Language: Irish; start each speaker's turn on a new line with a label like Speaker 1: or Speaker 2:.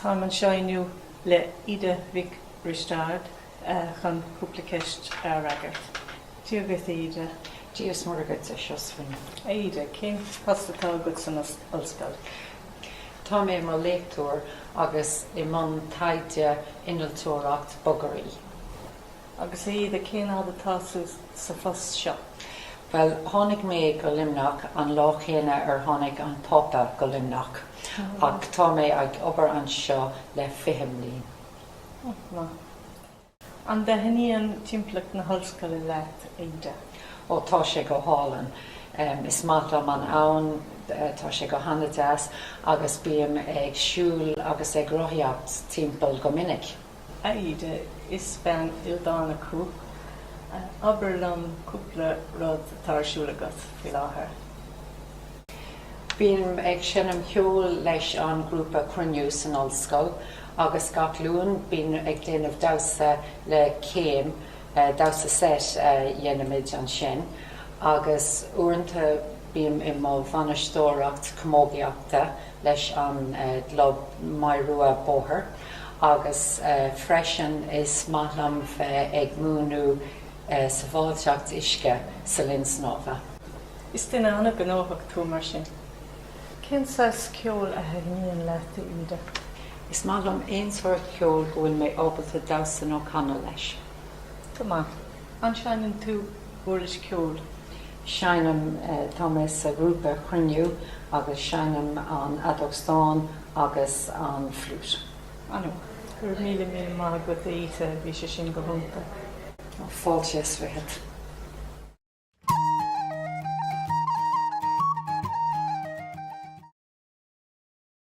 Speaker 1: Táim anseo inniu le Ida Mhic Risteaird chun cúpla ceist a fhreagairt. Dia dhuit, a Íde. Dia is Muire dhuit, a Sheosaimhín. A Íde, cén post atá agat san ollscoil? Tá mé i mo léachtóir agus i mbun taighde innealtóireacht bogearraí. Agus a Íde, cén fhad atá tú sa phost seo? Bhuel, tháinig mé go Luimneach an lá chéanna ar tháinig an Pápa go Luimneach ach tá mé ag obair anseo le fiche mbliain. An-mhaith. An dtaitníonn timpeallacht na hollscoile leat, a Íde? Ó, tá sé go hálainn. Is maith liom an abhainn, tá sé go hana-deas agus bím ag siúl agus ag rothaíocht timpeall go minic. A Íde, is bean ildánach thú. Abair liom cúpla rud atá ar siúl agat faoi láthair. Bím ag seinm cheoil leis an ngrúpa Cruinniú san ollscoil agus gach Luan bím ag déanamh damhsa le Céim, damhsa seit a dhéanaimid ansin. Agus uaireanta bím i mbun bainisteoireacht camógaíochta. leis an gclub Maigh Rua Bóthair agus freisin is maith liom bheith ag múineadh sabháilteacht uisce sa linn snámha. Is duine an-gnóthach tú mar sin. Cén saghas ceol a thaitníonn leat, a Íde? Is maith liom aon sórt ceoil go bhfuil mé ábalta damhsa nó canadh leis. Go maith. An seineann tú uirlis cheoil? Seinnim, tá mé sa ghrúpa Cruinniú agus seinnim an fheadóg stáin agus an fliúit. An-mhaith. Go raibh míle míle maith agat a Íde, bhí sé sin go hiontach. Fáilte is fichead.